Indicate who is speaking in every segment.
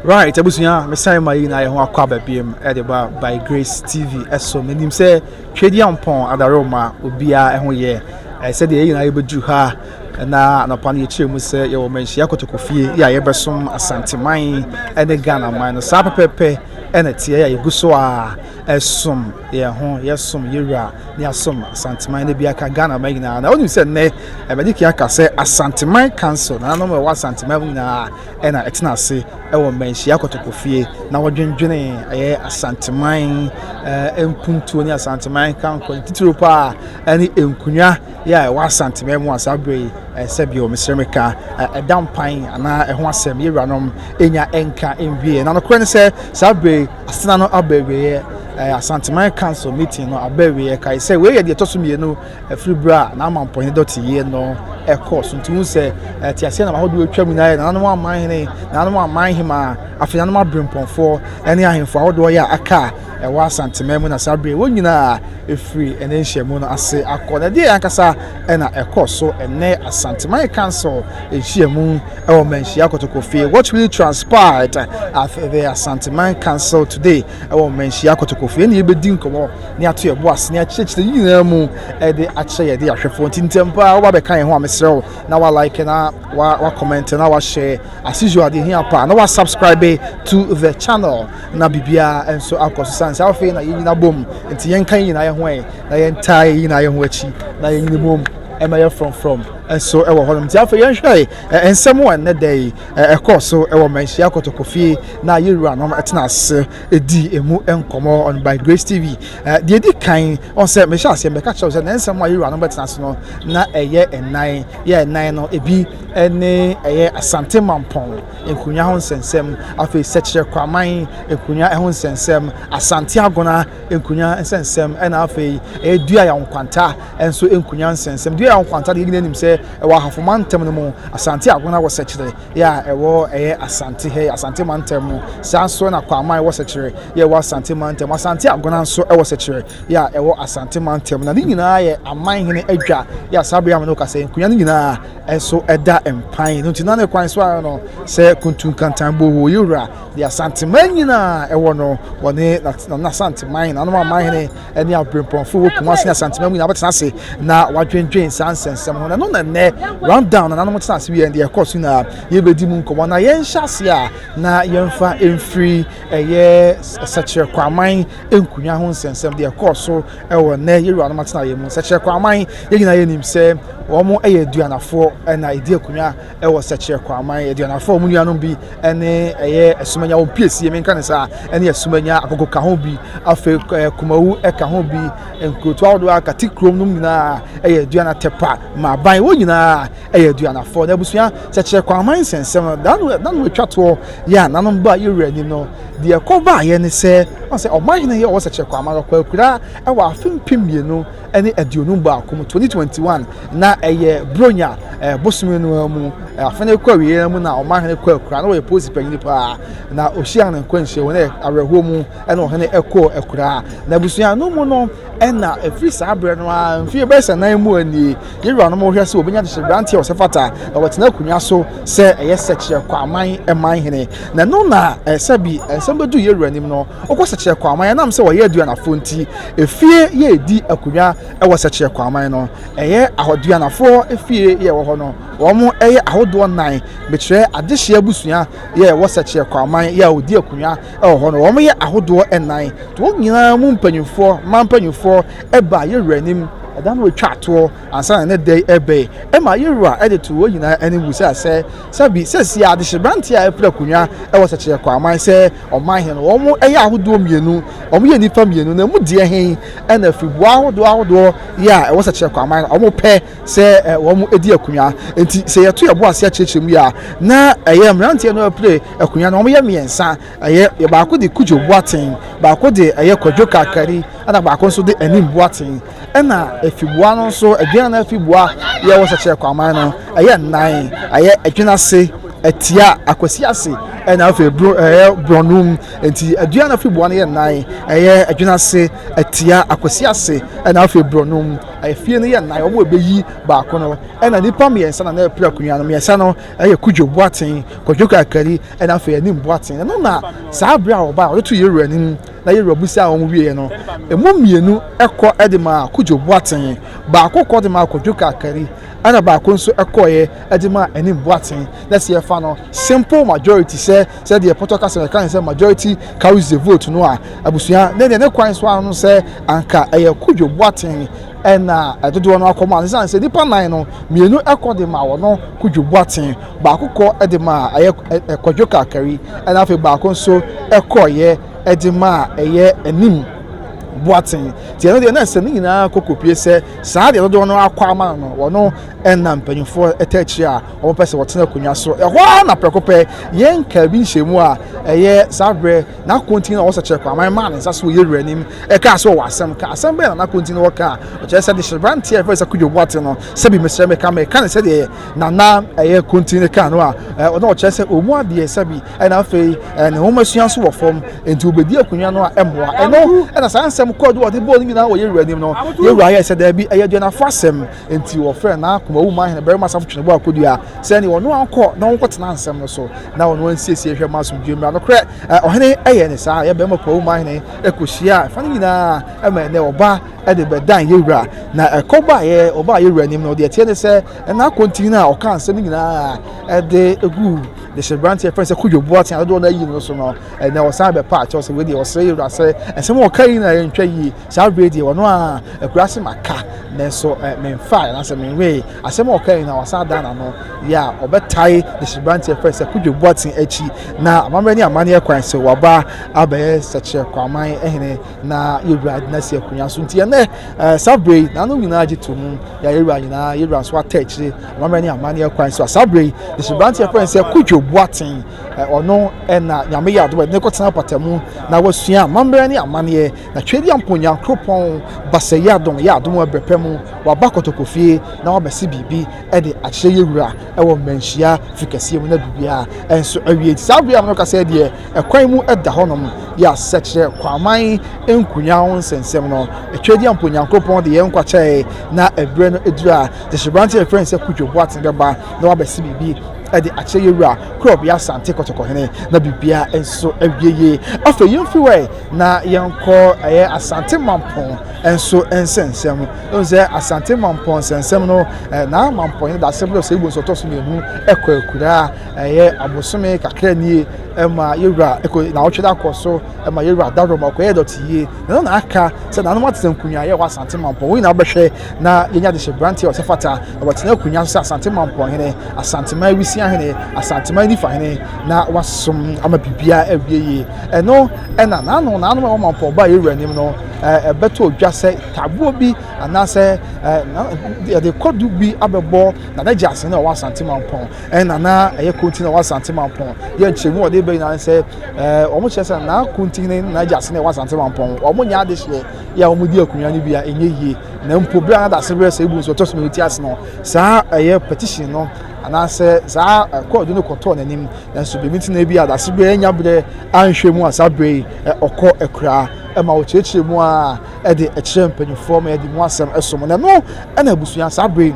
Speaker 1: Right abusua mesan ma yi na yɛ ho akɔ aba biam ɛde ba by grace tv ɛso menim sɛ twɛdi ampɔn adare ma obiara ɛho yɛ sɛdeɛ yɛ nyinaa yɛbɛduru ha na anɔpa no yɛkyerɛ mu sɛ yɛwɔ manhyia kotoko fie yɛ a yɛbɛsom asanteman ɛne ghana man no saa pɛpɛpɛ ɛna teɛ yɛ yɛgu so a ɛsom yɛn ho yɛsom yɛwura ne asom asanteman no bi aka ghana man nyinaa na wonim sɛ nnɛ Abadiki aka sɛ Asanteman Council nananom a ɛwɔ Asanteman mu nyinaa na ɛtena ase wɔ mmanhyia kɔtɔkɔfie na wɔdwendwene ɛyɛ Asanteman eh, mpuntuo ne Asanteman kanko ne titiriw paa ɛne nkonwa yɛ a ɛwɔ Asanteman mu a saa berɛ yi eh, sɛ bio mesrɛ meka eh, ɛda mpan anaa ɛho asɛm yɛwuranom ɛnya ɛnka ɛnwie na nokorɛ ne sɛ saa berɛ yi asena no aba awieɛ Asanteman Council meeting no aba awieɛ kae sɛ wei yɛ deɛ ɛtɔ so mmienu Ɛfiri berɛ a n'amampɔne dɔteeɛ no kɔɔ so nti, wohu sɛ teaseɛnam ahodoɔ atwa mu na ayɛ nananom aman hene, nananom aman hemaa, afei nananom aberempɔnfoɔ ne ahemfo ahodoɔ yɛ a aka a ɛwɔ Asanteman mu na saa berɛ wɔn nyinaa ɛfiri ɛnɛ nhyiamu no ase akɔ. Na ɛdeɛ ankasa na ɛkɔ so ɛnɛ Asanteman Council nhyiamu ɛwɔ Manhyia Kotokofie. What really transpired at the Asanteman Council today? wɔ mmanhyia kotokofo. Yɛne yɛbɛdi nkɔmmɔ ne ato yɛbo ase ne akyerɛkyerɛ yi nyinaa mu de akyerɛ yɛde ahwɛfoɔ nti ntɛm paa woba bɛka yɛn ho a mesrɛ wo na wa like na wa wa comment na wa share as usual deɛ hia paa na wa subscribe to the channel na biribiara nso akɔ so sane sɛ afei na yɛnyina bom nti yɛnka yɛ nyinaa yɛ ho ɛ na yɛntaa yɛ nyinaa yɛ ho akyi na yɛnyina bom ɛma yɛ frɔmfrɔm nso ɛwɔ hɔnom nti afei yɛnhwɛ nsɛm a ɛnnɛ da yi Ɛkɔɔ so wɔ Manhyia Kotokofie na yɛn wuranom tena ase dii emu nkɔmmɔ on by Grace TV. Deɛ ɛdi kan, ɔn sɛ mehyɛ aseɛ mɛka kyerɛ wo sɛ na nsɛm a yɛn wuranom bɛtena ase no na ɛyɛ nnan. Yɛ nnan no, ebi ne ɛyɛ Asante Mampɔn nkonnwa ho nsɛnsɛm, afei Sɛkyerɛ Kwaman nkonnwa ho nsɛnsɛm, Asante Agona nkonnwa nsɛnsɛm, ɛna afei ɛyɛ Duai Nkwanta nso nku nyansɛnsɛm. Dua a ɛwɔ Nkwanta deɛ yɛn nyinaa nim sɛ ɛwɔ Ahafo mantam no mu, Asante Agona wɔ Sɛkyerɛ yɛ a ɛwɔ ɛyɛ Asante ha yi, Asante mantam mu. Saa nso na Kwaaman wɔ Sɛkyerɛ yɛ a ɛwɔ Asante mantam mu. Asante Agona nso wɔ Sɛkyerɛ yɛ a ɛwɔ Asante mantam mu. Na ne nyinaa yɛ Amanhene adwa yɛ a saa bere a me ne wo kasa yi nkonwa no nyinaa nso da mpan. Ɛno nti na ne kwan so ara no sɛ Kuntu Nkantan Boho Yewura deɛ Asanteman nyinaa ɛwɔ no, wɔne N'Asanteman, Nanom Amanhene, ne abirɛmpɔnfo wɔ Kumasi ne Asanteman mu nyinaa bɛtena ase na wɔadwendwen saa nsɛnsɛm ho. Na ɛno na nnɛ rundown na nanom tena ase wie deɛ ɛkɔɔ so nyinaa yɛbɛdi mu nkɔmmɔ na yɛnhyɛ ase a na yɛmfa mfiri ɛyɛ sɛkyerɛ kwaman nkunya ho nsɛnsɛm deɛ ɛkɔɔ so ɛwɔ nnɛ yɛwuranom atena yɛ mu. Sɛkyerɛ kwaman yɛn nyinaa yɛnim sɛ wɔn yɛ aduanafoɔ na ɛdi akunya wɔ Sɛkyerɛ Kwaman Aduanafo a wɔn nuanom bi ne ɛyɛ Asumanya wɔn piesie menka ne saa ɛne Asumanya Akoko ka ho bi afei Kumawu ɛka ho bi nkurotoa ahodoɔ a kate kurom nom nyinaa ɛyɛ Aduana Tɛpa Maaban wɔn nyinaa ɛyɛ Aduanafoɔ na abusua Sɛkyerɛ Kwaman nsɛnsɛm no da no da no atwa toɔ yɛ a nanom ba yɛwura anim no deɛ ɛkɔ baayɛ ne sɛ ɔsɛ ɔman hene yɛ ɔwɔ Sɛkyerɛ Kwaman ɔkɔ akura ɛwɔ afe mpem mmienu ne aduonum baako mu twenty twenty one na ɛyɛ bronya ɛɛ eh, bosome no ara mu eh, afe no kɔ awieɛ mu na ɔmahene kɔ akura na ɔyɛ polisi panyin paa na ɔhyia no nkwanhyia wɔ ne awerɛhoɔ mu ɛna ɔhene ɛkɔ akura na abusua no mu no ɛna ɛfiri saa berɛ no a mfie bɛyɛ sɛ nan mu anie yɛwura no ma wɔhwɛ sɛ wɔbɛnya de hyɛberanteɛ wɔ sɛ fata na wɔtena akonnwa so sɛ ɛyɛ sɛkyerɛ kɔ aman ɛman hene na ɛno na ɛsɛ bi ɛnsɛm bɛdu yɛwura anim no Wokɔ Sɛkyerɛ Kwaman a, ɛnam sɛ wɔyɛ aduanafo nti, efie yɛ edi akonnwa wɔ Sɛkyerɛ Kwaman no. Ɛyɛ ahoduanafoɔ efie yɛ wɔ hɔ no. Wɔn yɛ ahodoɔ nnan. Mekyerɛ adehyeɛ abusua yɛ ɛwɔ Sɛkyerɛ Kwaman yɛ a wɔdi akonnwa wɔ hɔ no. Wɔn yɛ ahodoɔ nnan. Nti wɔn nyinaa mu mpanimfoɔ, mmaa mpanimfoɔ ɛbaa yɛwura anim ɛda no retwa atoɔ ansa na ne dɛn ɛbɛn. Ɛma yɛwura ɛde to wɔn nyinaa anim bisa sɛ, sɛbi sɛsi ara adehyebranteɛ a ɛpere akonnwa wɔ Sɛkyerɛ Kwaman sɛ ɔman he no, wɔyɛ ahodoɔ mmienu, wɔyɛ nnipa mmienu, na emu deɛ he na afiriboa ahodoɔ ahodoɔ yɛ a ɛwɔ sɛ kyerɛ kwaman no, wɔpɛ sɛ wɔn di akonwa. Nti sɛ yɛto yɛbo ase akyerɛkyerɛ mu yi a, na ɛyɛ mmeranteɛ no apire akonwa no, wɔyɛ mmiɛnsa, ɛyɛ baako de Kudjo Boateng, baako de ɛyɛ Kwadwo Kakari, ɛna baako nso de Anim Boateng. Ɛna afibua no nso, adwene no afibua yɛ wɔ sɛkyerɛ kwaman no, ɛyɛ nnan, ɛyɛ adwene ase, atia, akwasi ase, ɛna afei bro, ɛyɛ borɔnum. Nti adwene no afibua no yɛ nnan, ɛyɛ adwene ase, atia, akwasi ase, ɛna afei borɔnum. Afie no yɛ nnan, wɔn ɛbɛyi baako no. Ɛna nnipa mmiɛnsa na na ɛpere akonnwa no, mmiɛnsa no ɛyɛ Kudwo Boateng, Kwadwo Kakari, ɛna afei Anim Boateng. Ɛno na saa bere a ɔbaa, ɔde to Yɛwura anim na Yerewa bisaa wɔn wieeɛ no, ɛmu mmienu kɔ de maa Kojo Boateng, baako kɔ de maa Kwadwo Kakari, ɛna baako nso kɔeɛ de maa Anim Boateng. Na sɛ yɛfa no simple majority sɛ sɛdeɛ pɔtɔ kasa yɛka ne sɛ majority carries the vote no a, abusua ne deɛ ne kwan so ano no sɛ anka ɛyɛ Kojo Boateng ɛna dodoɔ no akɔma no, ɛsiane sɛ nnipa nan no mmienu kɔ de maa wɔn Kojo Boateng. Baako kɔ de ma a ɛyɛ kwadwo kakari ɛna afei baako nso kɔyɛ de ma a ɛyɛ anim boaten nti ɛno deɛ na ɛsɛ ne nyinaa kɔkɔpie sɛ saa deɛ dodoɔ no akɔ ama no no wɔno ɛna mpanyinfoɔ ɛtɛ akyire a wɔpɛ sɛ wɔtena akonnwa so ɛhɔ ara na prɛko pɛ yɛn nka bi nhyɛ mu a ɛyɛ saa berɛ n'akontin na wɔsɛ kyerɛ kɔ aman maa ne nsa so yɛ wura nim ɛkaa sɛ ɔwɔ asɛm ka asɛm bɛyɛ na n'akontin no wɔka a ɔkyerɛ sɛ de hyɛ branteɛ a ɛfɛ sɛ kodwo boate no sɛbi mesrɛ meka meka ne sɛdeɛ na na ɛyɛ kontin ne kaa no a ɔna ɔkyerɛ sɛ ɔmu adeɛ sɛbi ɛna afei ne nwoma sua nso wɔ fam nti wɔbɛdi akonnwa no a ɛmmoa ɛno ɛna saa nsɛm kɔɔ do wɔde bɔɔ no nyinaa wɔ yɛwura anim no yɛwura yɛ sɛ daabi ɛyɛ aduanafo asɛm nti wɔfrɛ na akoma wu ma ahene barima asafo twene bɔ akɔdua sɛ ne ɔno ankɔ na wɔnkɔtena nsɛm no so na ɔno ansiesie hwɛ ma asomdwe mmra nokorɛ ɔhene ɛyɛ ne saa yɛ barima koma wu ma ahene ɛkɔhyia ɛfa no nyinaa ɛma ɛnɛ ɔba de bɛdan yɛn wura na ɛkɔ baeɛ ɔbaa yɛn wura anim na ɔde ɛteɛ ne sɛ ɛna akɔntini no a ɔka nsɛm nyinaa ɛde gu de hyɛ branteɛ fɛn sɛ kodwo boa tea dodoɔ no ayi no so no ɛnɛ ɔsan bɛpa akyɛw sɛ wei deɛ ɔsrɛ yɛn wura sɛ ɛsɛm a ɔka yi na ɛntwa yie saa berɛ deɛ ɔno a akura se maka nanso memfae anaasɛ menwee asɛm a ɔka yi na ɔsan dan n'ano yɛ a ɔbɛtae de hyɛ branteɛ fɛn sɛ kodwo boa tea akyi na amammerɛ ne amanneɛ kwan sɛ waba abɛyɛ sɛkyerɛ kwaman hene na yɛwura de no asi akonnwa so nti ɛnɛ eh, saa berɛ yi nanom nyinaa gye to mu yɛayɛwura nyinaa yɛwura nso ata akyire amammerɛ ne amanneɛ kwan so a saa berɛ yi nhyɛbrante ɛfrɛ sɛ kodwo boaten eh, ɔno ɛna nyame yɛ adom ɛde ne kɔtena patamu na wasua amammerɛ ne amanneɛ na twɛdi ampo nyankoropɔn basɛ yɛ adom yɛ adom ɛbrɛ pɛ mu waba kɔtɔkɔ fie na wabɛse biribi ɛde akyerɛ yɛwura ɛwɔ mmanhyia fikɛseɛ mu na biribiaa ɛnso awie saa berɛ a mɛka sɛ deɛ Kwan mu da hɔnom de asɛ kyerɛ Kwaaman Nkunyaw nsɛnsɛm no. Tweadia mpo Nyankopɔn de yɛn nkwa kyɛe na ɛberɛ no aduru a gyahyeberante a yɛfrɛ no sɛ Kudwo Boateng bɛba na wabɛse biribi de akyerɛ yɛn wura Kurɔbea Asante Kɔtɔkɔhene na biribiara nso awie yie. Afei yɛmfiri hɔ ɛ na yɛnkɔ ɛyɛ Asante Mampɔn nso nsɛnsɛm. Ɛhu sɛ Asante Mampɔn nsɛnsɛm no na Mampɔn yɛn dasɛm no sɛ Igbo nso ɔtɔ so mmienu kɔ akuraa Ɛyɛ abosome kakra nie ɛma yɛwura ɛkɔ naawɔtwe da kɔ so ɛma yɛwura dawuro ma ɔkɔyɛ dɔte yie na ɛno na aka sɛ nanom atete nkonnwa yɛ wɔ asante mampɔn wɔn nyinaa bɛhwɛ na yɛnya de hyɛ branteɛ ɔsɛ fata na wɔtena akonnwa so sɛ asante mampɔn hene asanteman awisia hene asanteman nifa hene na wasom ama biribiara awie yie ɛno ɛna naano nanom ɛwɔ mampɔn ba yɛwura anim no ɛbɛto odwa sɛ tabuo bi anaasɛ yɛde kɔdu bi abɛbɔ na n'agya ase na ɔwɔ asante mampɔn Ɛna na ɛyɛ Konti na ɛwɔ Asante Mampɔn. Yɛ nkyerɛmu a wɔde ba nyinaa ne sɛ, eh, wɔn kyerɛ sɛ na Konti ne na agya ase na ɛwɔ Asante Mampɔn. Wɔn nyɛ adehyeɛ yɛ a wɔdi akonnwa no bi a ɛnyɛ yie. Na mpo bere a na dase berɛ sɛ ebu nso ɔtɔ so mmienu ti ase no, saa ɛyɛ petition no anaasɛ saa eh, kɔɔdu no kɔtɔɔ n'anim. Nanso biribi nti na ebi a dase berɛ anya berɛ anhwɛ mu a saa berɛ yi eh, ɔkɔ akuraa ɛma wɔkyerɛkyerɛ mu a ɛde ɛkyerɛ mpanimfoɔ ma yɛde mu asɛm ɛsom. Na ɛno ɛna abusua saa berɛ yi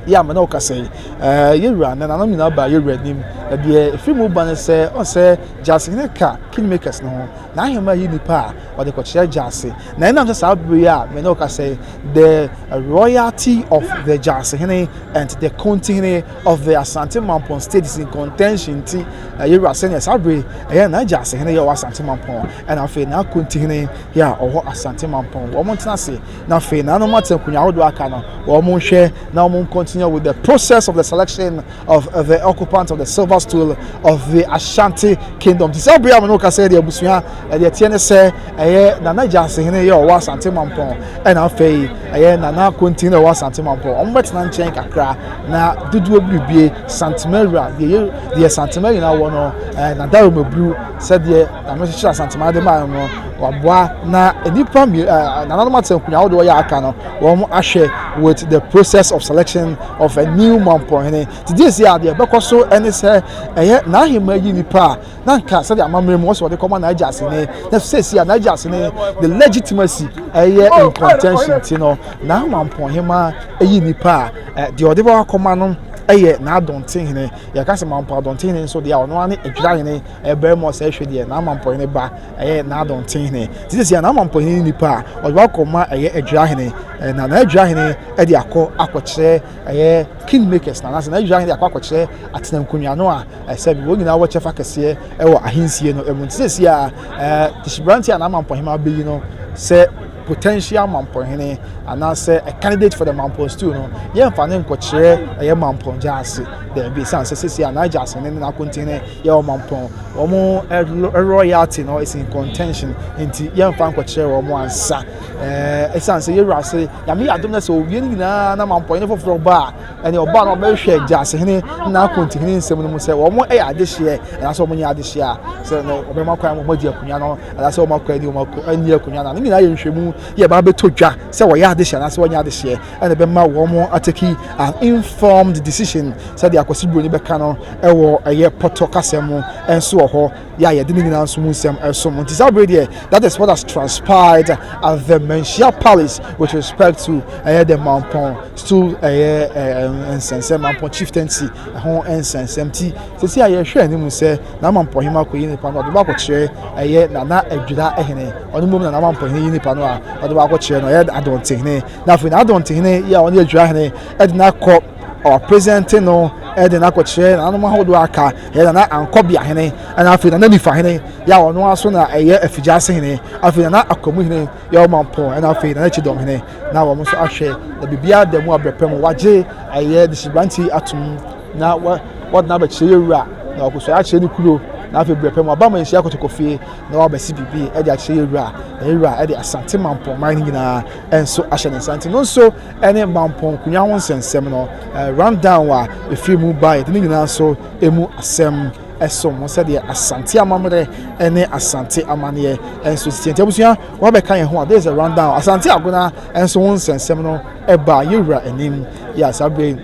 Speaker 1: Yɛ ama na ɔka sɛ, Ɛɛ, yɛn wura, nananom nyinaa baa yɛn wura anim. Na deɛ ɛfiri mu ba ne sɛ, ɔn sɛ Gyaase hene ka Kingmakers no ho, n'ahemmaa yi nnipa a ɔde kɔkyerɛ Gyaase. Na ɛnam sɛ saa bere yi a me ne wo kasa yi, the royalty of the Gyaase hene and the Konti hene of the Asante Mampong state is in contention nti, yɛn wura, sɛdeɛ saa bere ɛyɛ na Gyaase hene yɛ wɔ Asante Mampong, ɛna afei na Konti hene yɛ a ɔwɔ Asante Mampong, wɔn ntena ase. na afei na wɔn ate nkonnwa ahodoɔ aka no wɔn nhwɛ na wɔn continue with the process of the selection of uh, the occupant of the silver stool of the ashanti kingdom ti sɛ abea mu no kasa ɛde abusua ɛde ɛteɛ ne sɛ ɛyɛ nana gyansehene yɛ ɔwɔ asante mampɔn ɛna afei ɛyɛ nana kontin na ɔwɔ asante mampɔn wɔn bɛtena nkyɛn kakra na dodoɔ biribie santemawura deɛ yɛ deɛ santemawura wɔ no ɛɛ eh, na daroma buru sɛdeɛ Na me nso asantemaa de maa no waboa na nnipa nananom ate nkonnwa ahodoɔ yɛ aka no wɔn ahwɛ with the process of selection of a new mampɔhene te deɛ si adeɛ bɛkɔ so ɛne sɛ ɛyɛ n'ahema yi nipa a na nka sɛdeɛ amammerɛ mu wɔsɛ wɔde kɔma n'agya asene na sɛsi a n'agya asene the legitimacy ɛyɛ in contention ti no na mampɔhema ɛyi nipa a deɛ ɔde bɛwakɔma no ɛyɛ n'adɔntehene yɛka sɛ mampɔ adɔntehene nso deɛ ɔno ane adwirahene Ɛbɛn mu ɔsɛ hwɛ deɛ n'amampɔhene ba ɛyɛ n'adɔntehene. Ti sisi a n'amampɔhene ne nipa a ɔde wakɔ ma ɛyɛ adwirahene na n'adwirahene ɛde akɔ akɔkyerɛ ɛyɛ kingmakers na anaasɛ n'adwirahene de akɔ akɔkyerɛ atena nkonnwa no a ɛsɛ bi wɔn nyinaa wɔ kyɛfa kɛseɛ ɛwɔ ahensie no ɛmu. Ti sisi a ɛɛ tisibrante a n'amampɔhene abɛyi no sɛ potential mampɔhene anaasɛ a candidate for the mampɔn stool no yɛmfa ne nkɔkyerɛ ɛyɛ mampɔn gyaase daabi sane sɛ sisi a n'agyaase ne n'akontene yɛ ɔmampɔn. Wɔn eh, royalty no is in contention nti yɛmfa nkɔkyerɛ wɔn ansa. Eh, ɛsiane sɛ yɛwura ase nyame yɛ adom no sɛ owie no nyinaa na mampɔn ne foforɔ ba a ɛne ɔbaa no ɔbɛhwɛ gyasehene na akontihene nsɛm no mu sɛ wɔn yɛ adehyeɛ anaasɛ wɔn nyɛ adehyeɛ a sɛ ɔbɛma kwan wɔn adi akonnwa no anaasɛ wɔn akɔ ani wɔn ani akonnwa no ne nyinaa yɛ nhwɛmu yɛ ba bɛtɔ dwa sɛ wɔyɛ adehyeɛ anaasɛ wɔnyɛ adehyeɛ ɛna ɛbɛma wɔn ateki an informed decision sɛdeɛ akwasi buroni bɛka no ɛwɔ ɛyɛ pɔtɔ kasa mu ɛnso wɔ hɔ yɛ a yɛde ne nyinaa nso mu nsɛm ɛsom nti saa bere deɛ that is what has transpired at the Manhyia Palace with respect to ɛyɛ the Mampɔn stool ɛyɛ ɛɛ nsɛnsɛm Mampɔn chieftaincy ɛho nsɛnsɛm ti sisi a yɛhwɛ anim sɛ na Mampɔn hema kɔ yi nipa no ɔde baako kyerɛ ɛyɛ nana adwira ɛhene ɔno mmom na na Mampɔn yi nipa no a ɔde baako kyerɛ no ɛyɛ adɔntehene na afei n'adɔntehene yi a ɔne adwira hene de no akɔ ɔpresente no de no akɔkyerɛ nananom ahodoɔ aka yɛ nana ankɔbea hene ɛna afei nana nifa hene yɛ a ɔno aso na ɛyɛ afigya ase hene afei nana akwamu hene yɛ ɔma mpɔn ɛna afei nana kyidɔm hene na wɔn nso ahwɛ na biribiara da mu abrɛpɛ mu wagye ɛyɛ de sibrante atom na wɔde no abɛkyerɛ yɛ wura na ɔkɔsɔre akyerɛ ne kuro na afei berɛ pɛ mu aba ma nhyia kɔtɔkɔ fie na wabɛsi biribi de akyerɛ yɛ wura na yɛ wura de asante mampɔman no nyinaa nso ahyɛ ne nsa nti no nso ne mampɔn nkonya ho nsɛnsɛm no rundown a ɛfiri mu baeɛ de ne nyinaa nso ɛmu asɛm ɛso mo sɛdeɛ asante amammerɛ ne asante amanneɛ nso sisi nti abusua wɔabɛka yɛn ho a this is a rundown asante agona nso ho nsɛnsɛm no ɛbaa yɛwura anim yɛ asabe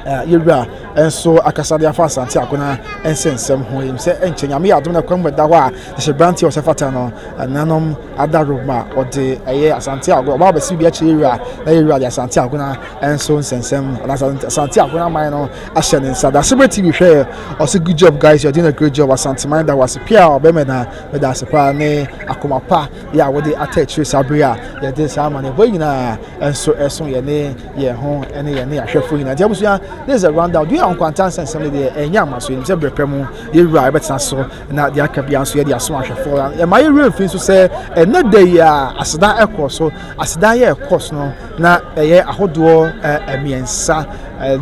Speaker 1: Yɛ wura nso akasa de afa Asante Akona nsɛnsɛm ho. Yɛnim sɛ nkyɛ Nyame yɛ adom na kwan mu ɛda hɔ a ɛhyɛ branteɛ a ɔsɛ fata no. Nanom Ada Roma ɔde ɛyɛ Asante Akona ɔba abɛsi bi akyerɛ yɛ wura na yɛ wura de Asante Akona nso nsɛnsɛm anaasɛ Asante Akona man no ahyɛ ne nsa. Dasebere TV hwɛ yɛ ɔsɛ good job guys you are doing a great job Asante man da wase pia a ɔbɛmɛ na meda ase paa ne akoma pa yɛ a wode ata akyire saa bere a yɛde saa amane bɔ yi nyinaa nso ɛso yɛ ne yɛn ho ne yɛn ne ahwɛfo nyinaa nti abusua this is a round down dua yɛ nkwantan sɛ nsɛm no deɛ ɛnyɛ ama so yɛnim sɛ berɛ pɛ mu yɛwura yɛbɛtena so na deɛ aka bia nso yɛde aso ahwɛfo ɛma yɛwura mfiri nso sɛ ɛnɛ da yi a aseda ɛkɔ so aseda yɛ ɛkɔ so no na ɛyɛ ahodoɔ mmiɛnsa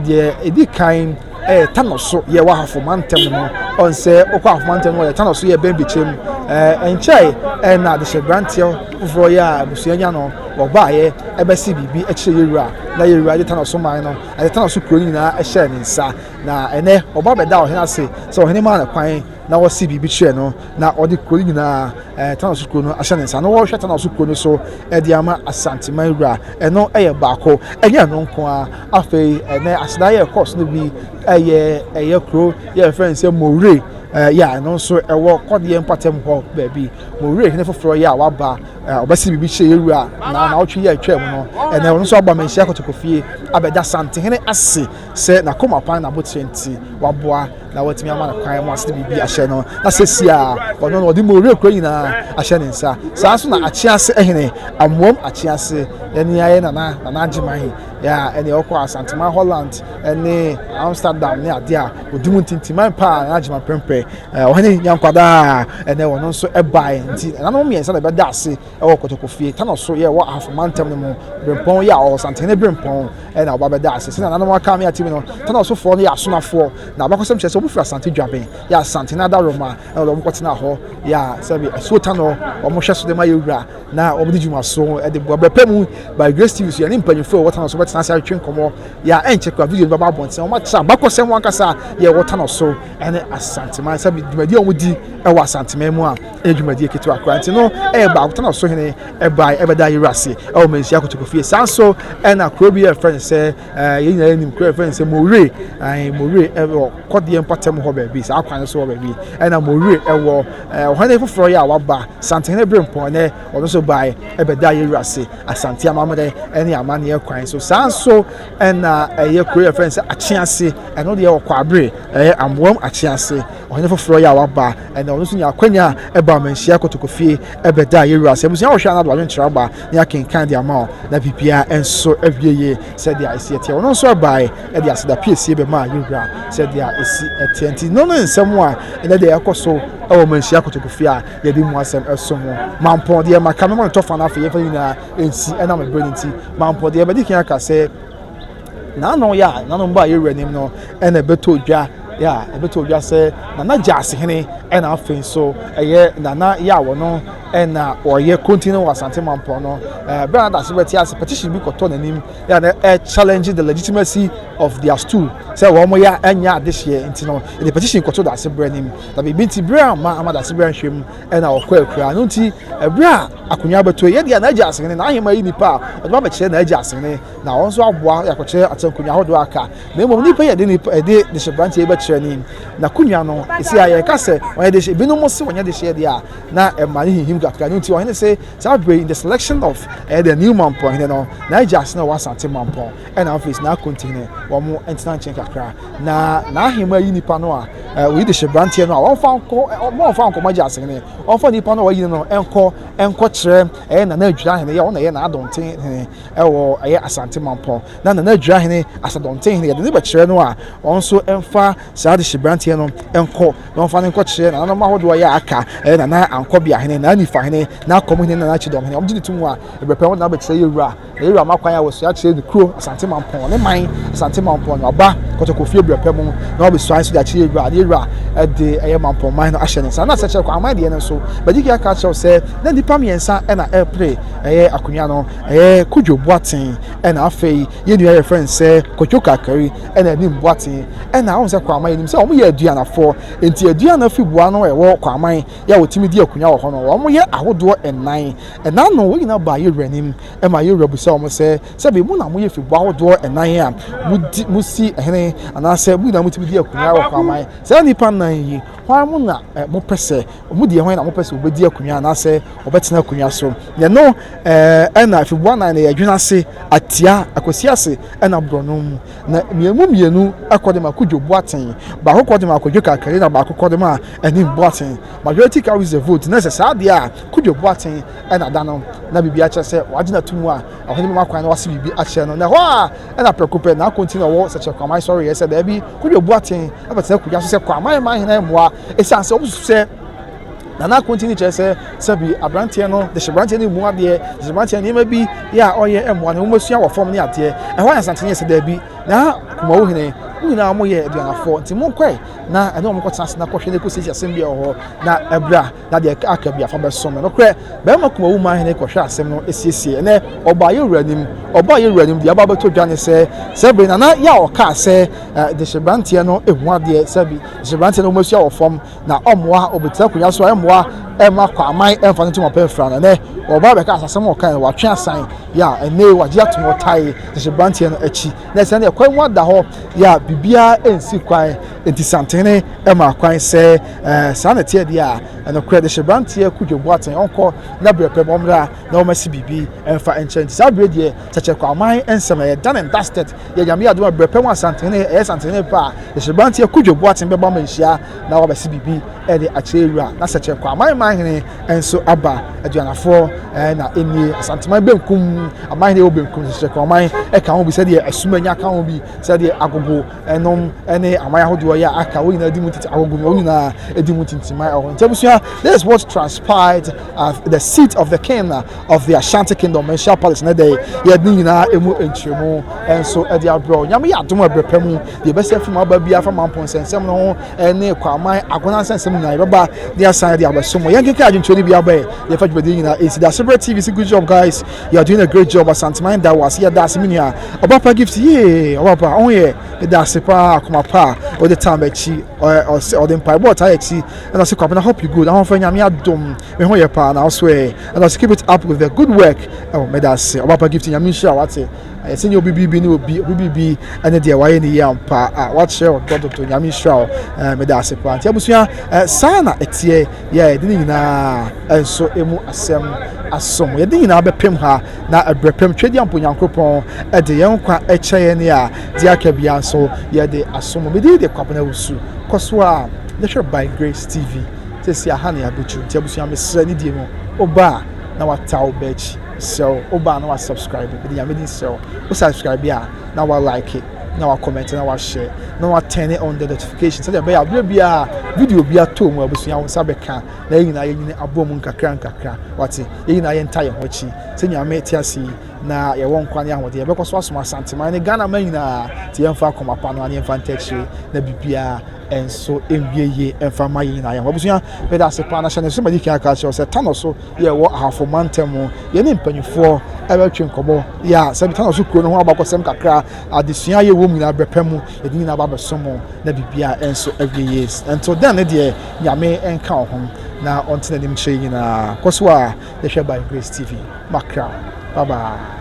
Speaker 1: deɛ ɛdi kan ɛɛ tanɔ so yɛ wɔ ahafo mantam no ɔnsɛ ɔkɔ ahafo mantam no yɛ tanɔ so yɛ bɛn bikyerɛ mu ɛɛ nkyɛe ɛna adehyɛ branteɛ foforɔ yɛ a abusua nya no wɔbaayɛ ɛbɛsi biribi ɛkyerɛ yɛ wura na yɛ wura de tanɔ so man no ɛde tanɔ so kuro no nyinaa ɛhyɛ ne nsa na ɛnɛ ɔba bɛda ɔhene ase sɛ ɔhene maa no kwan na wɔsi biribi kyerɛ no na ɔde kuro no nyinaa ɛɛ tanɔ so kuro no ahyɛ ne nsa na wɔhwɛ tanɔ so kuro no so ɛde ama asanteman wura ɛno ɛyɛ baako ɛnyɛ ɛno nko a Afei ɛnɛ asena yɛ ɛkɔɔ so no bi ɛyɛ ɛyɛ kuro yɛ ɛfrɛ no sɛ Mowure ɛyɛ a ɛno nso ɛwɔ kɔdeɛ mpatam hɔ baabi Mowure hene foforɔ yɛ a waba ɔbɛsi biribi kyerɛ yɛ wura na na ɔtwe yɛ atwa mu no ɛnɛ ɔno nso aba manhyia kɔtɔkɔfie abɛda santehene ase sɛ n'akoma pan na abotire nti waboa na watumi ama no kwan mu ase biribi ahyɛ no na sɛsi a ɔno no ɔde Mowure kuro nyinaa ahyɛ ne nsa saa nso na akyease hene amoam akyease ɛne ayɛ nana nana agyeman Yeah, ɛne ɔkɔ Asantema Holland ne Amsterdam ne adeɛ a ɔdi mu ntintiman paa na agyema prɛmprɛ ɔhene nyankwadaa ɛnɛ ɔno nso ɛbae nti ɛnanom mmiɛnsa na ɛbɛda ase ɛwɔ kɔtɔkɔfie tano so yɛ ɛwɔ ahafo mantam no mu berempɔn yɛ a ɔwɔ santehene berempɔn ɛna ɔba bɛda ase sɛnea nanom aka me atim no tano sofoɔ no yɛ asonafoɔ na abakɔsɛm kyerɛ sɛ wɔfiri asante dwaben yɛ asante no adaroma ɛna wɔkɔtena hɔ yɛ a sɛbi asuo tano wɔhwɛ so de ma yɛwura na wɔde dwuma so de boa bɛpɛ mu by grace tv so yɛne mpanyinfoɔ a wɔtena so bɛtena ase atwe nkɔmmɔ yɛ a ɛnkyɛ kora video no bɛba abɔnten wɔn akyerɛ abakɔsɛm ho ankasa a yɛ wɔtena so ɛne asanteman sɛ dwumadie a wɔdi ɛwɔ asanteman mu a ɛyɛ dwumadie ketewa kora nti no ɛyɛ baako tena so hene ɛbae ɛbɛda yɛwura ase ɛwɔ manhyia kotoko fie saa nso ɛna kuro bi yɛ fɛn sɛ Eh, yɛn nyinaa nim kura fɛn sɛ mowere ae mowere ɛwɔ kɔdeɛ mpɔtam hɔ baabi saa kwan so hɔ baabi ɛna mowere ɛwɔ ɔhɔn ne foforɔ yɛ a waba santehene bere mpɔn nɛ ɔno nso bae ɛbɛda yɛ wura ase asante amammerɛ ɛne amanneɛ kwan so saa nso ɛna ɛyɛ kuro yɛ fɛn sɛ akyease ɛno deɛ ɔkɔ abere ɛyɛ amoam akyease Ɔhene foforɔ yi a waba ɛnɛ, ɔno nso nya akwanya a ɛbɔ amanhyia kotokofie ɛbɛdaa yɛn wura. Sɛ abusua wɔhwɛ anaa de adwenkyerɛ aba ne akenkan de ama wɔn na biribiara nso awie yie sɛdeɛ ɛsi ɛteɛ. Ɔno nso ɛbaeɛ de aseda piesie bɛmaa yɛn wura sɛdeɛ ɛsi ɛteɛ. Nti no ne nsɛm a ɛnɛ deɛ ɛkɔ so ɛwɔ amanhyia kotokofie a yɛde mu asɛm ɛso mu. Mampɔn deɛ maka mɛma no tɔfa no afei yɛmfa ne nyinaa nsi ɛnam ɛberɛ no nti. Mampɔn deɛ mɛdi kan aka sɛ. Nanom yɛ a nanom bɔ a yɛwura nim no ɛna ɛbɛtɔ dwa yɛ a ɛbɛtɔ dwa sɛ nana gyaase hene ɛna afei nso ɛyɛ nana yɛ a wɔno ɛna ɔyɛ konti no wɔ asante mampɔn no ɛɛ bɛn adase bɛte ase petition bi kɔtɔ n'anim yɛ a na ɛ challenge the legitimacy of their stool sɛ wɔn yɛ ɛnyɛ adehyeɛ nti no ɛde petition kɔtɔ dase berɛ nim na biribi nti berɛ a ma ama dase berɛ nhwɛ mu ɛna ɔkɔ akura no nti ɛberɛ a akonnwa bɛtɔ yɛ deɛ na agya asene na ahema yi nipa a ɔde ba bɛkyerɛ na agya asene na wɔn nso aboa yɛ akɔkyerɛ ate nkonnwa ahodoɔ aka na mmom nipa yɛ de nipa ɛde de hyɛ branteɛ bɛkyerɛ ne na akonnwa no esi a yɛka sɛ wɔn de hyɛ binom se wɔn de hyɛ deɛ a na ɛma ne hihim kakra ne nti wɔn ne se saa bere in the selection of ɛyɛ the new mampɔn hene no na agya ase na wɔn asante mampɔn ɛna afei na akonti hene wɔn ntena nkyɛn kakra na na ahema yi nipa no a wɔyi de hyɛ branteɛ no a wɔn fa nkɔ wɔn fa nkɔ wɔn agya ase hene wɔn fa nipa no a wɔyi no nkɔ nkɔ kyerɛ ɛyɛ na na adwira hene yɛ wɔn na ɛyɛ na adɔnten hene Ɛwɔ ɛyɛ Asante Mampɔn na Nana Aduahene Asadɔntenhene yɛde no bɛkyerɛ no a wɔn nso mfa saa adehyeberanteɛ no nkɔ na wɔmfa no nkɔkyerɛ nananom ahodoɔ a ɛyɛ a aka ɛyɛ Nana Ankɔbeahene, Nana Nifahene, Nana Akɔmhene ne Nana Kyidɔmhene. Wɔgye no to mu a ɛberɛ pɛ wɔde no abɛkyerɛ Yawura na Yawura ma kwan a wɔsua kyerɛ ne kuro Asante Mampɔn ne man Asante Mampɔn na waba Kɔtɔkɔfie berɛ pɛ mu na wabɛsua nso de akyerɛ Yawura na Yawura de ɛyɛ Mampɔn man no ahyɛ ne nsa. Na Sɛkyerɛkwaman deɛ no nso Bajiki aka akyerɛ wo sɛ na nnipa mmiɛnsa na ɛrepere ɛyɛ akonnwa no. Ɛyɛ Kojo Boateng ɛna afei yɛn nua yɛfrɛ no sɛ Kojo Kakari ɛna anim Boateng ɛna wɔn sɛ Kwaman yɛnim sɛ wɔn yɛ aduanafoɔ nti aduan no afi boa no ɛwɔ Kwaman yɛ a wɔtumi di akunya wɔ hɔ no wɔn yɛ ahodoɔ nnan ɛna ano wɔn nyinaa baa yɛwura anim ɛma yɛwura bisa wɔn sɛ sɛbi mo na mo yɛ fi boa ahodoɔ nnan a mo di mo si hene anaasɛ mo nyinaa mo tumi di akunya wɔ Kwaman saa nipa nnan yi hwan mo na mo pɛ sɛ Wɔn deɛ hwan na wɔpɛ sɛ wɔbɛdi akonnwa anaasɛ wɔbɛtena akonnwa so. Yɛno ɛna afiboa nan na yɛdwene ase atia akwasi ase ɛna borɔno mu. Na mmienu mmienu ɛkɔ de ma Kudwo Boateng, baako kɔ de ma Kwadwo Kakari na baako kɔ de ma Anim Boateng. Majority carries the vote. Na sɛ saa deɛ a Kudwo Boateng ɛna da no na biribi akyerɛ sɛ wagye no ato mu a, ɔhene bɛma kwan na wase biribi akyerɛ no. Na ɛhɔ a ɛna prɛko pɛ na Akonti na ɔwɔ Sɛkyerɛ Kwaman sɔreeɛ sɛ daabi Kudwo Boateng ɛbɛtena akonnwa so sɛ Kwaman Manhene mmoa. Esiane sɛ wosusuw sɛ Nana Ako ntini kyerɛ sɛ sɛbi aberanteɛ no de hyɛ aberanteɛ no mu adeɛ, de hyɛ aberanteɛ nneɛma bi yɛ a ɔyɛ mmoa no, wɔasua wɔ fam ne adeɛ. Ɛhɔ ayɛ nsanteneɛ sɛ daabi. Na Kumawu hene, wɔn nyinaa wɔyɛ aduanafoɔ, nti monkɔe na ɛne wɔn nkɔtena ase na kɔhwɛ na kɔsi sɛ asɛm bi wɔ hɔ na abira na deɛ aka bi afa bɛsom no. Nokorɛ, barima Kumawu maa hene kɔhwɛɛ asɛm no siesiee. Ɛnnɛ, ɔbaa yɛn wura anim. Ɔbaa yɛn wura anim. Deɛ aba abɛtɔ dwa ne sɛ, sɛbi Nana Yaw kaa sɛ de hyɛ aberanteɛ no mu adeɛ, sɛbi. Nso mmeranteɛ no wɔasua wɔ fam na ɔmmoa ɔbɛtena akonnwa so a ɛmmoa ɛmma kwaman ɛmfa no ntom apɛ mfra no ɛnɛ ɔbaa bɛka asasɛm a ɔkae no watwe asan yɛ a ɛnɛ wagye atom ɔtae nso mmeranteɛ no akyi na ɛsɛ ne ɛkwan mu ada hɔ yɛ a biribiara ɛnsi kwan nti santene ɛma kwan sɛ ɛɛ saa na ɛteɛ deɛ a ɛnokorɛ de hyɛ mmeranteɛ kudwo boaten ɔnkɔ na berɛ pɛ ma ɔmmra na wɔasi biribi ɛmfa nkyɛn nti saa berɛ deɛ kyɛkyɛ kwaman ɛnsɛm ɛyɛ done and dusted Yɛ Nyame yɛ adom a berɛpɛ ho asanteneɛ ɛyɛ santeneɛ paa Hyerɛberanteɛ Kwadwo Boateng bɛba ma nhyia na wabɛse biribi de akyerɛ wura na sɛ kyerɛ kwa man man hene nso aba Aduanafoɔ na ɛnie Asanteman benkum aman hene wɔ benkum sɛ kyerɛ kwa man ɛka ho bi sɛdeɛ Asumanya ka ho bi sɛdeɛ Agogo nom ne aman ahodoɔ yɛ aka wɔn nyinaa di mu titi Agogo nom wɔn nyinaa di mu tintiman ɛwɔ nti abusua this is what transpired at the seat of the king of the ashanti kingdom manhyia palace ne dɛn yɛde ne nyinaa ɛmu nkyerɛmu nso ɛde abrɛ nyame yɛ adom ɛbrɛ pa mu deɛ ɛbɛsɛ afiri mu aba biara fa mampo nsɛnsɛm no ho ɛne kwaman agona nsɛnsɛm nyinaa yɛbɛba ne asan de abɛso mu yɛnkeka adwentwerɛ no bi abɛɛ yɛfa dwumadi nyinaa ɛsi da ase berɛ tv si good job guys you are doing a great job asanteman da wɔ ase yɛda ase me nua ɔba pa gift yee ɔba pa ɔho yɛ ɛda ase paa akoma pa a ɔde tam akyi ɔde mpaebɔ ɔtaa akyi ɛna ɔse kwapena hope you good ahofa nyame adom Me ho yɛ paa na aso ɛ. Let us keep it up with the good work. Oh, meda ase. Ɔbapa gift nyame nhyira wate. Ayɛ sɛ nyɛ obi bibi ne obi, obi bibi ɛne deɛ wayɛ ne yie ampa. Ah, wakyerɛ ɔdɔ dodo. Nyame nhyira wo. Eh, meda ase paa. Nti abusua, eh, saa na ɛteɛ. Yɛ ɛde ne nyinaa nso emu asɛm asom. Yɛde nyinaa bɛpem ha na ɛbrɛ pem twɛdi ampo Nyankopɔn ɛde yɛn nkwa ɛkyɛ yɛn ne a deɛ aka biara nso yɛde asom. Medi de kwabena wusu. Kɔ so a, yɛhwɛ by Grace TV. sɛsi aha ne abotru nti abusua mesrɛ ne die mu woba a na wataw bɛkyi mesrɛ wo woba a na wa subscribe mede nyame din srɛ wo wo subscribe a na wa like na wa comment na wa share na wa turn on the notification sɛdeɛ ɛbɛyɛ aberɛ biara video bi atɔ mu abusua wo nsa bɛka na yɛn nyinaa yɛnyini abɔ mu nkakra nkakra wate yɛn nyinaa yɛnta yɛn ho akyi sɛ nyame te ase yi na yɛwɔ nkwa ne ahoɔden yɛbɛkɔ so asom asanteman ne ghana ma nyinaa te yɛmfa akoma pa no a ne yɛmfa ntakyire na biribiara nso ewie yie mfa mma yɛn nyinaa yɛn ho abusua meda ase paa na hyɛ ne so madi kan aka kyerɛw sɛ tano so yɛ wɔ ahafo mantam mu yɛne mpanyinfoɔ ɛbɛtwe nkɔmɔ yɛ a sɛ tano so kuro no ho abakɔsɛm kakra adesua yɛ wɔm nyinaa bɛpɛ mu yɛde nyinaa ba bɛso mu na biribiara ɛnso awie yie nto dɛn ne deɛ nyame nka wo ho na ɔnte n'anim kyerɛ nyinaa kɔ so a yɛhwɛ by grace tv makra bye bye